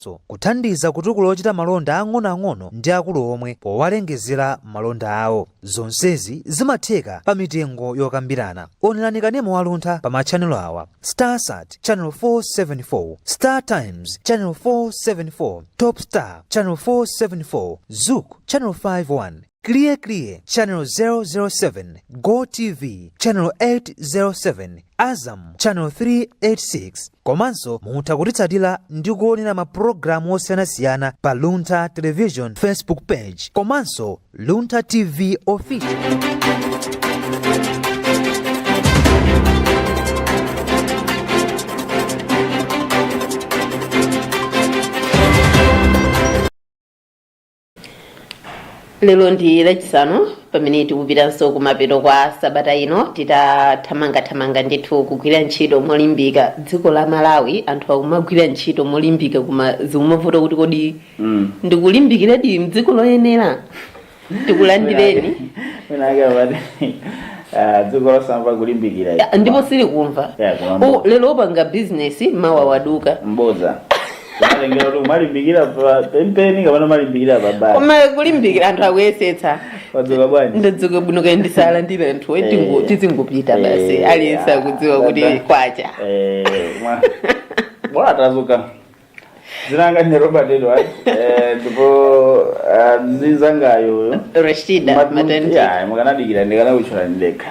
zipatso, kuthandiza kutukula ochita malonda ang'onoang'ono ndi akulu omwe powalengezera malonda awo. Zonsezi zimatheka pa mitengo yokambirana. Onerani kanema wa Luntha pa machanelo awa, Starsat, channel 474, Startimes, channel 474, Topstar, channel 474, Zuku, channel 5 1. Kiliye Kiliye Channel 007, Go TV Channel 807, Azam Channel 386 komanso mutha kutitsatira ndi kuonera mapulogalamu osiyanasiyana pa Luntha Television Facebook page komanso Luntha TV official. lero ndi lachisanu pamene tikupitanso kumapeto kwa sabata ino titathamangathamanga ndithu kugwira ntchito molimbika dziko la malawi anthu akumagwira ntchito molimbika koma zikumavuta kuti kodi Mm. ndikulimbikiradi mdziko loyenera tikulandireni wina amati dziko losamva kulimbikira Ya, ndipo silikumva Yeah, kumamva. Lero opanga bizinesi mawa waduka mboza Kumalengera kuti umalimbikira pa penipeni kapena umalimbikira pa basi. koma kulimbikira anthu akuyesetsa Wadzuka bwanji? ndadzuka bwino kaye tisalandire anthu Eh. tizingopita basi Eh, aliyense ah, akudziwa kuti dada. kwacha Eh, mwa- bola tadzuka dzina langa ndi robert edward eh, ndipo ah, mzinzangayo uyo rashida matenti mukanadikira ndikanakutchula ndekha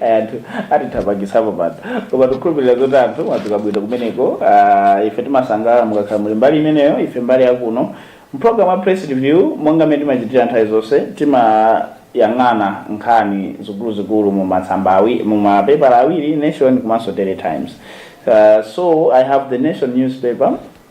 Ayi anthu atithamangisapo pano koma tikukhulupirira zoti anthu mwadzuka bwino kumeneko. Ah, ife timasangalala mukakhala muli mbali imeneyo, ife mbali yakuno mpulogalamu ya press review monga mmene timachitira nthawi zonse timayang'ana nkhani zikuluzikulu m'masamba mu mapepala awiri Nation komanso Daily Times. Uh, so I have the Nation newspaper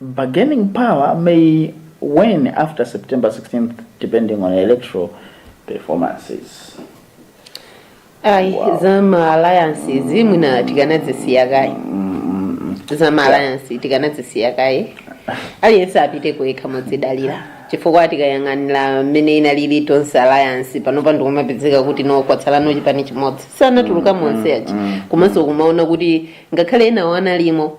Bargaining power may wane after September 16th depending on electoral performances. Ayi Wow. za ma alliance zi mwina tikanadzisiya kaye. Za ma alliance tikanadzisiya kaye. Aliyense apite payekha modzidalira. Chifukwa tikayang'anira mmene inalili tonse alliance panopa ndikumapezeka kuti no kwatsalano chipani chimodzi. Sanatuluka monse achi. Komanso kumaona kuti ngakhale enawo analimo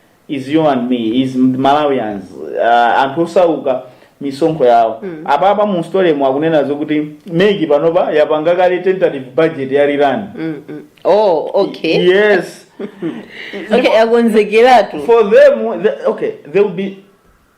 is you and me is malawians uh, anthu osauka misonkho yawo mm. apapa mu story mu akunena zokuti MEC panopa yapanga kale tentative budget ya rerun mm, mm. oh okay yes okay akonzekeratu for them the, okay they will be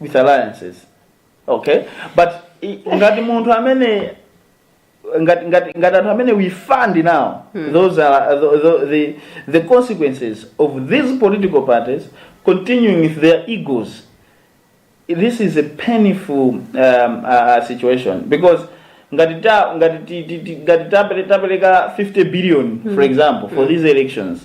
with alliances okay but ngati munthu amene ngati ngati ngati anthu amene we fund now those are the, the, the, the consequences of these political parties continuing with their egos this is a painful um, uh, uh, situation because ngati ta ngati ti- ti- ti- ngati tapele- tapeleka 50 billion for example for these elections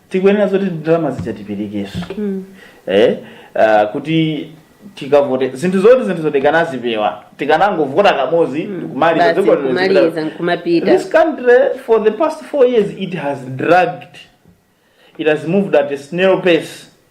tikuyenera zoti ndalama zija tiperekeso eh, ah, kuti tikavote zinthu zoti zinthu zoti tikanazipewa tikanangovota kamodzi kumaliza Basi, dziko lino kumaliza, zipita- nkumapita. this country for the past four years it has dragged it has moved at a snail pace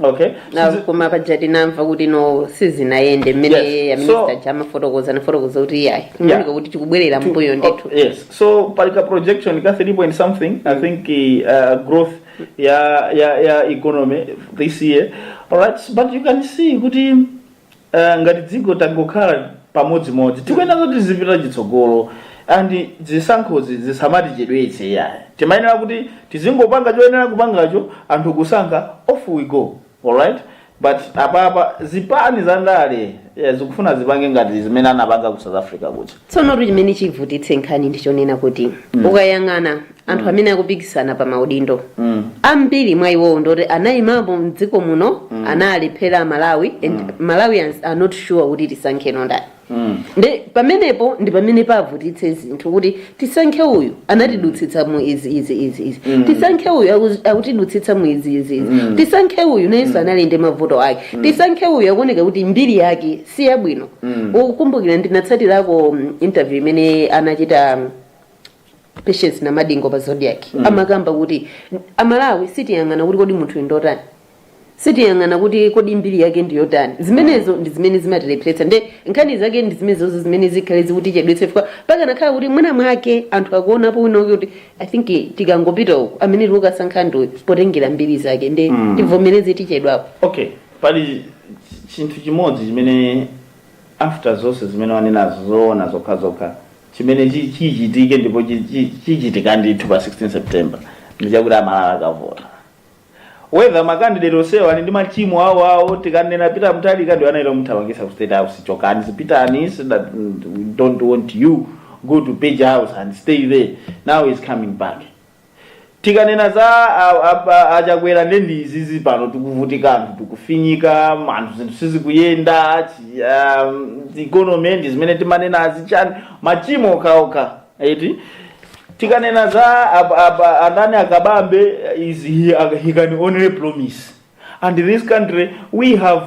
okay Na- Sizi- koma budget tinamva kuti no sizinayende mmene a minister ja amafotokoza anafotokoza kuti iyayi kumaoneka kuti tikubwerera mbuyo ndithu Oh, yes so pali ka projection ka 3 point something i think uh, growth ya ya ya economy this year alright but you can see kuti Eh, ngati dziko tangokhala pamodzimodzi tikuyenera kuti tizipita chitsogolo and zisankhozi zisamatichedwetse yayi timayenera kuti tizingopanga choyenera kupangacho anthu kusankha off we go alright but apapa zipani za ndale eh, zikufuna zipange ngati zimene anapanga ku south africa kuja tsonotu chimene chivutitse nkhani ndichonena kuti ukayang'ana anthu mm. amene akupikisana pa maudindo mm. ambiri mwa iwowo ndoti anayimapo mdziko muno mm. analephera malawi and mm. malawians are not sure kuti tisankheno ndani mm. ndi pamenepo ndi pamene pavutitse zinthu kuti tisankhe uyu anatidutsitsa mu izi izi izi izi mm. tisankhe uyu akutidutsitsa mu izi izi izi mm. tisankhe uyu nayenso mm. anali ndi mavuto ake mm. tisankhe uyu akuoneka kuti mbiri yake si yabwino mm. ukukumbukira ndinatsatirako mm, interview imene anachita mm, patience namadingo pa zodiak mm. amakamba kuti amalawi sitiyang'ana kuti kodi munthu ndotani sitiyang'ana kuti kodi mbiri yake ndiyotani zimenezo ndi zimene zimatilepheretsa nde nkhani zake ndi zimenezo zimene zikhale zikutichedwetse chifukwa pakanakhala kuti mwina mwake anthu akuonapo wina wake kuti i think tikangopita uko amene tikukasankha ndiwe potengera mbiri zake nde mm. tivomereze tichedwapo okay pali chinthu chimodzi chimene after zonse zimene wanenazo zoona zokha zokha Chimene chi chichitike ndipo chi chi chichitika ndithu pa 16 September ndi chakuti a Malawi akavota. Whether ma candidate onsewa ali ndi machimo awo awo, tikanena Peter Mutharika ndi anali omuthamangitsa ku state house chokani zipitani so that we don't want you, go to page house and stay there, now is coming back. tikanena za achakwera nde ndi izizi pano tikuvutika anthu tikufinyika anthu zinthu sizikuyenda economy ndi zimene timanena azichani machimo okhaokha eti tikanena za a ndani a Kabambe is he, he can only promise and this country we have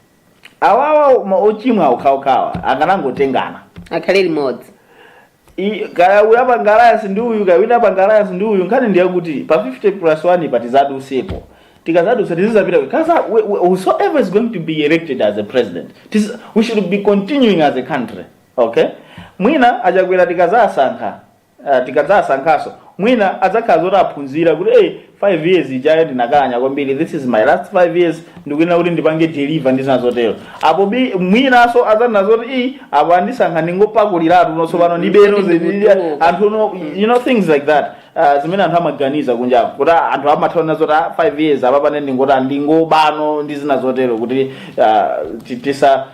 awawa ma- ochimwa okhaokhawa akanangotengana akhale limodzi I- kaya uyu apanga alliance ndi uyu kaya wina apanga alliance ndi uyu nkhani ndiyakuti pa 50 plus 1 pa tizadusepo tikazadusa tizizapita because wh- wh- whosoever is going to be elected as a president tiz- we should be continuing as a country okay mwina a Chakwera tikazasankha Uh, tikadzasankhaso mwina adzakhala zoti aphunzira kuti hey, 5 years ijayo ndinakanya kwambiri this is my last 5 years ndikuyenera kuti ndipange deliver ndi zina zotero apo bi mwinaso adzanena zoti iyi apo andisankha ndingopakuliratu no tsopano Mm, ndibeno mm, zedi- mm. anthu no you know things like that uh, zimene anthu amaganiza kunja kuti ah, anthu amatha ona zoti ah, 5 years apapa nde ndingoti ah, ndingobano ndi zina zotero kuti uh, ti- tisa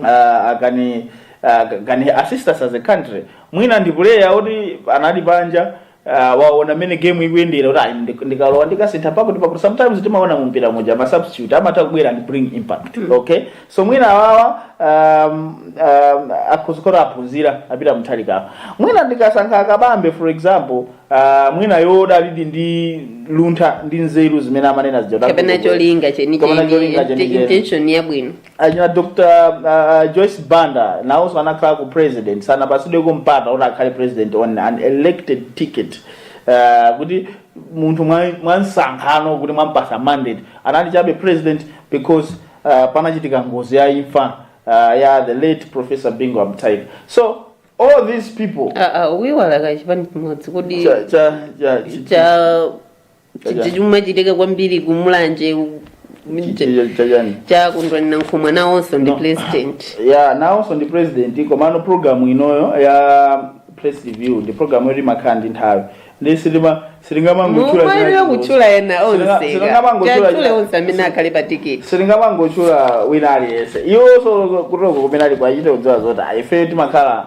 uh, can uh, can assist us as a country mwina ndi player oti anali panja uh, waona mene game ikuyendera kuti ayi ndi- ndikalowa ndikasintha pakuti pakuti sometimes timaona mumpira muja ma substitute amatha kubwera and bring impact okay so mwina awawa um, um, akuzikola aphunzira apita mthalikapo mwina tikasankha a Kabambe for example uh, mwina odalilidi ndi luntha ndi nzeru zimene amanena zija kapena cholinga kapena cholinga chenicheni chenicheni. intention yabwino achina Dr uh, Joyce Banda nawonso anakhala ku president sanapatsidweko mpata kuti akhale president on an elected ticket uh, kuti munthu mwa- mwamsankhano kuti mwampasa mandate anali chabe president because uh, panachitika ngozi ya imfa uh, ya the late professor Bingu Mutharika so all these people Ah, ah, mwaiwala kachipani chimodzi kodi cha, cha, cha, cha, cha chimatchuka kwambiri ku Mulanje u- Chi- chi- cha chani cha Kondwani Nankhumwa nawonso ndi No. president ya nawonso ndi president komano programu inoyo ya press review ndi programu yoti imakhala ndi nthawi ndi silima silingamangotchula mumalira kutchula ena Silinga- onse silingamangotchula tatchule china- onse amene akhale pa tiketi silingamangotchula wina aliyense iwonso kutoko kumene aliko achite kudziwa zoti ayi, ife timakhala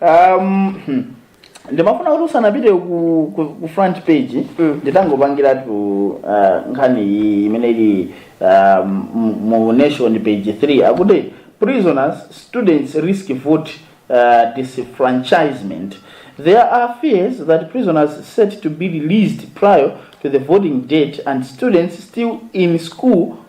um, hmm. ndimafuna kuti usanapite ku, ku, ku front page Mm. nditangopangiratu uh, nkhani iyi imene ili uh, mu- mu nation page 3 akuti prisoners students risk vote uh, disenfranchisement there are fears that prisoners set to be released prior to the voting date and students still in school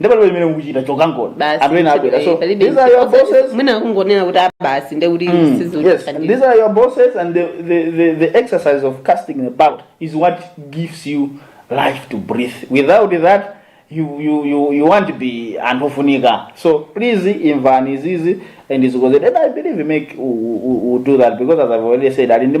ndi palibe chimene mukuchita chokangono Basi, anthu ena abwera so eh, palibe- these are your bosses mwina kungonena kuti abasi nde kuti Mm, yes, sizikuthandiza these are your bosses, and the, the, the, the exercise of casting the ballot is what gives you life to breathe. Without that, you, you, you, you won't be antofunika. So please, Invani is easy and is good. And I believe we make we, we, we do that because, as I've already said, I didn't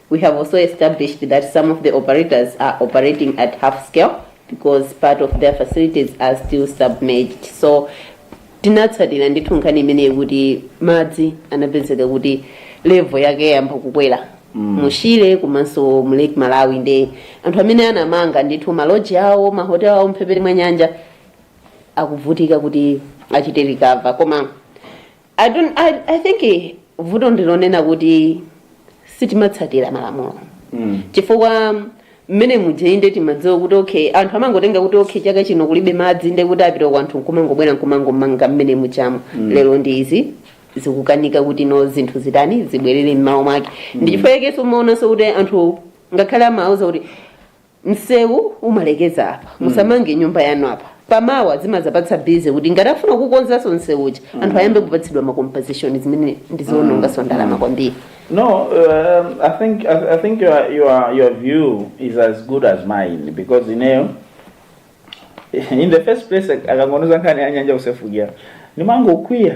We have also established that some of the operators are operating at half scale because part of their facilities are still submerged. So tinatsatira ndithu nkhani imeneyi kuti madzi anapezeka kuti levo yake yayamba kukwera mu Shire komanso mu Lake Malawi nde anthu amene anamanga ndithu maloji awo mahotel awo mphepete mwa nyanja akuvutika kuti achite recover koma I don't, I, I think eh, vuto ndilonena kuti sitimatsatira malamulo mm. chifukwa mmene muja inde timadziwa kuti okay anthu amangotenga kuti okay chaka chino kulibe madzi nde kuti apita kwao anthu nkumangobwera nkumangomanga mmene mujamo mm. lero ndi izi zikukanika kuti no zinthu zitani zibwerere m'malo mwake mm. ndi chifukwa yakenso umaonanso kuti anthu ngakhale amawauza kuti msewu umalekeza apa musamange nyumba yanu apa pamawa zimazapatsa bize kuti ngati afuna kukonzanso msewu uja anthu ayambe kupatsidwa makompeseshoni zimene ndiziononganso ndalama kwambiri No, um, I think I, I think your your your view is as good as mine because you know, in the first place, akangonena nkhani ya nyanja kusefukira ndimangokwiya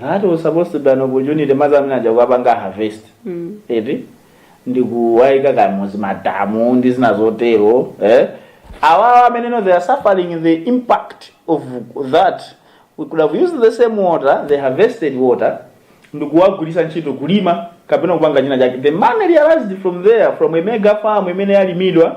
that was supposed to be an opportunity madzi amene aja kukapanga harvest eti ndikuwaika m'madamu ndi zina zotero eh? awawa amene no they are suffering the impact of that we could have used the same water the harvested water ndikuwagwiritsa ntchito kulima kapena kupanga china chake the money realized from there from a mega farm imene yalimidwa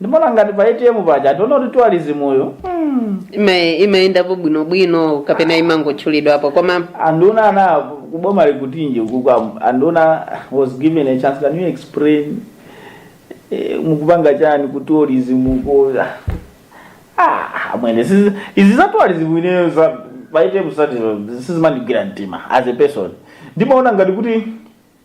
ndimaona ngati pa atm paja sindiona kuti tourismuyo Ima- imayendapo bwinobwino kapena imangotchulidwapo koma anduna anakuboma likutinje if anduna was given a chance can you explain eh, mukupanga chani ku tourism ko ah mwene sizi- izi za tourism ineyo za pa ATM strategy sizimandigwira mtima as a person ndimaona ngati kuti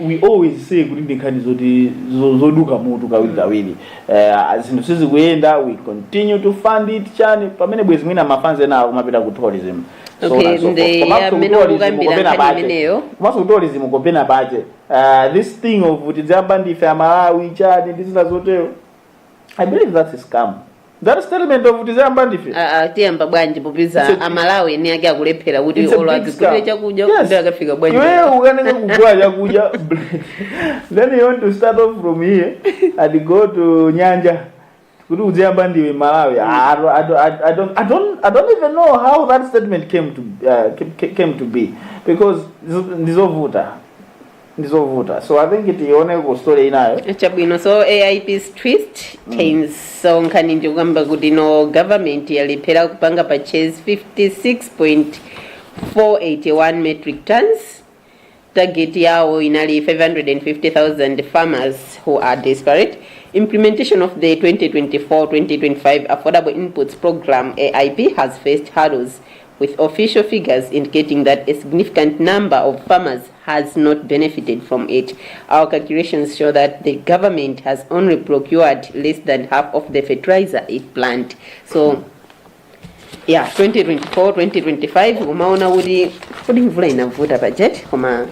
we always say kuti ndi nkhani zoti zo- zoduka mutu kawiri kawiri Eh, zinthu sizikuyenda we continue to fund it chani pamene bwezi mwina mafanzi ena akumapita ku tourism Okay, komanso ku tourism kopeka paja Eh, this thing of tidziyamba ndife amalawi chani ndi zina zotero i believe that's a scam that statement of tidziyamba ndife Ah, ah, tiyamba bwanji popeza amalawi eni ake akulephera kuti olo adzigulire chakudya nde akafika bwanji Iwe ukanike kugula chakudya then you want to start off from here and go to nyanja kuti udziyamba ndiwe malawi I, I, I, I, don't, I, don't, i don't even know how that statement came to, uh, came, came to be because ndizo- ndizovuta ndi zovuta so i think tione ku story inayi chabwino so aip is twist times so nkhani ikukamba kuti no government yalephera kupanga purchase 56.481 metric tons target yawo inali 550,000 farmers who are desperate implementation of the 2024-2025 affordable inputs program aip has faced hurdles with official figures indicating that a significant number of farmers has not benefited from it. Our calculations show that the government has only procured less than half of the fertilizer it planned. So, yeah, 2024, 2025, umaona kuti kodi mvula inavuta budget koma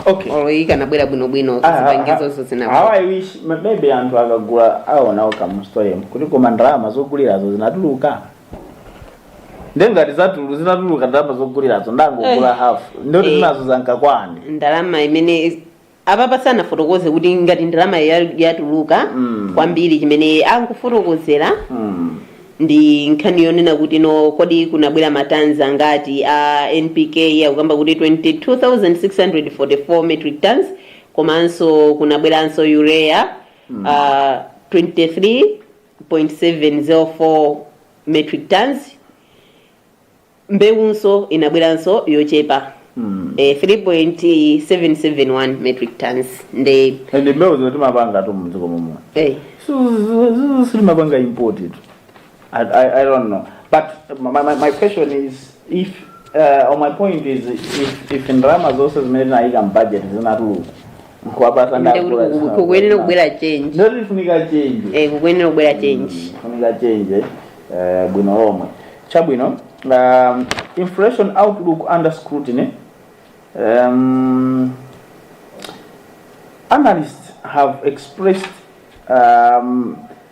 okay olo ikanabwera bwinobwino zipangizozo zinavuta. how i wish ma- maybe anthu akagula aonawo ka mu sitolomu kuti koma ndalama zogulirazo zinatuluka nde ngati zinatulu zinatuluka ndalama zogulirazo anangogula Eh. half nde kuti Eh. zinazo zankakwani ndalama imene apapa sanafotokoze kuti ngati ndalama ya- yatuluka Mm. kwambiri chimene akufotokozera Mm. ndi nkhani yonena kuti no kodi kunabwera matanzi angati a npk akukamba kuti 22644 metric tons komanso kunabweranso urea uh, 23 0.704 metric tons mbewunso inabweranso yochepa mm. eh, 3.771 metric tons nde and mbewu zinazo timapanga tu mdziko momuno eh, sitimapanga import tu I, I, i don't know but my, my, my question is if uh, or my point is if, if ndalama zonse zimene tinayika mbudget zinatuluka Nkwapatali nde kuti ndalama kuku- kukuyenera kubwera change Nde kufunika change. Eh, kukuyenera kubwera change Kufunika change eh, bwino lomwe. Chabwino. Um, inflation outlook under scrutiny. Um, analysts have expressed um,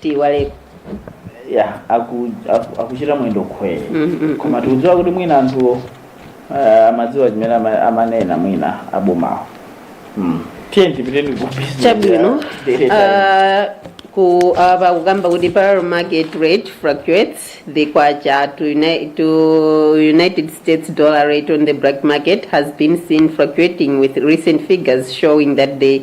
tiiwaleko ya aku- aku- akuchita mwendo khwee Mm, mm, koma tikudziwa kuti mwina anthuwo ah, amadziwa chimene ama- amanena mwina abomawo Mm. tiye tipiteni ku business chabwino ya daily times. Ah, ku apa kukamba kuti parallel market rate fluctuates the kwacha to, uni to united states dollar rate on the black market has been seen fluctuating with recent figures showing that the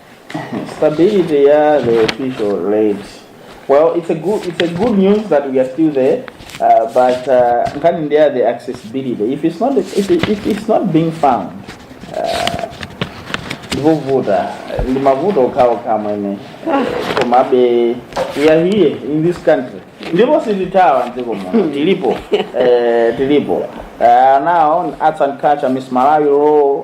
stability ya the official rate well it's a good it's a good news that we are still there uh, but uh, nkhani ndi ya the accessibility if it's not if, it, if it's not being found uh, ndipovuta ndi mavuto okhaokha amene komabe we are here in this country ndipo sitithawa mdziko muno tilipo eh, tilipo uh, now arts and culture miss malawi law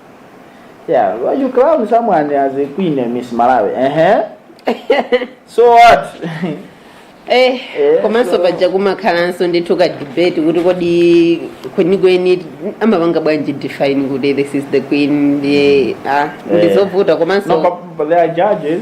Yeah, well you crown someone as a queen and Miss Malawi? Uh-huh. so what? eh Eh, komanso so- paja kumakhalanso ndithu ka debate kuti kodi kwenikweni amapanga bwanji define kuti this is the queen ndiye ah Eh. ndizovuta No, komanso but, but there are judges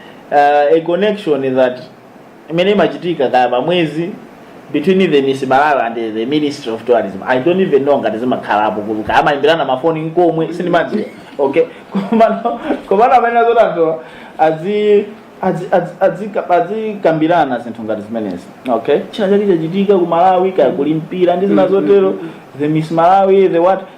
uh, a connection that imene imachitika kaya pamwezi between the miss malawi and the ministry of tourism i don't even know ngati zimakhalapo kuti kaya amayimbirana mafoni nkomwe sindimadziwa okay komano komano amene akazatere azi azi- azi- azika- azikambirana zinthu ngati zimenezi okay china chake chachitika ku malawi kaya kuli mpira ndi zina zotero the miss malawi the what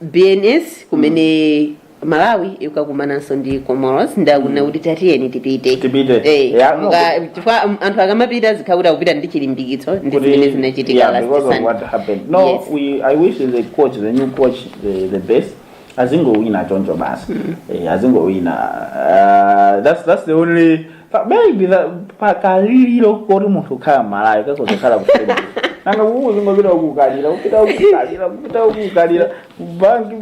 bns kumene malawi ikakumananso ndi comoros ndikufuna kuti tatiyeni tipite Tipite. Eh, Yeah, no, nga- chifukwa am- anthu akamapita zikhala kuti akupita ndi chilimbikitso ndi zimene zinachitika yeah, last because of Sunday. what happened no Yes. we, i wish the coach the new coach the, the best azingowina choncho basi eh, azingowina uh, that's, that's the only Pa- maybe the- pakaliliro koti munthu ukhala mmalawi akuzokhala kusema nanga kukuzingopita kukalira kupita kukalira kupita kukalira banki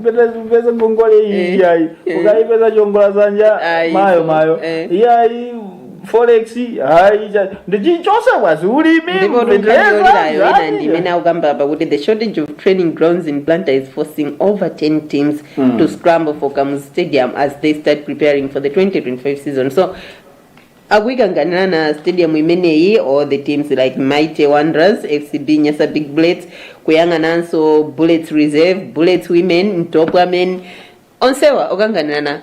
peza ngongole iyi Eh, iyayi eh. ukaipeza chongola dzanja Ayi, mayo so, mayo eh. iyayi forex hayi cha- ndichichose bwazi ulimi ndipo mvetsera, tunkaliolirayo ina zani. ndimene akukamba apa kuti the shortage of training grounds in blantyre is forcing over 10 teams mm. to scramble for Kamuzu Stadium as they start preparing for the 2025 season. So akuikanganira na stadium imeneyi or the teams like mighty wanderers fcb nyasa big bullets kuyang'ananso bullets reserve bullets women mtopwa men onsewa okanganirana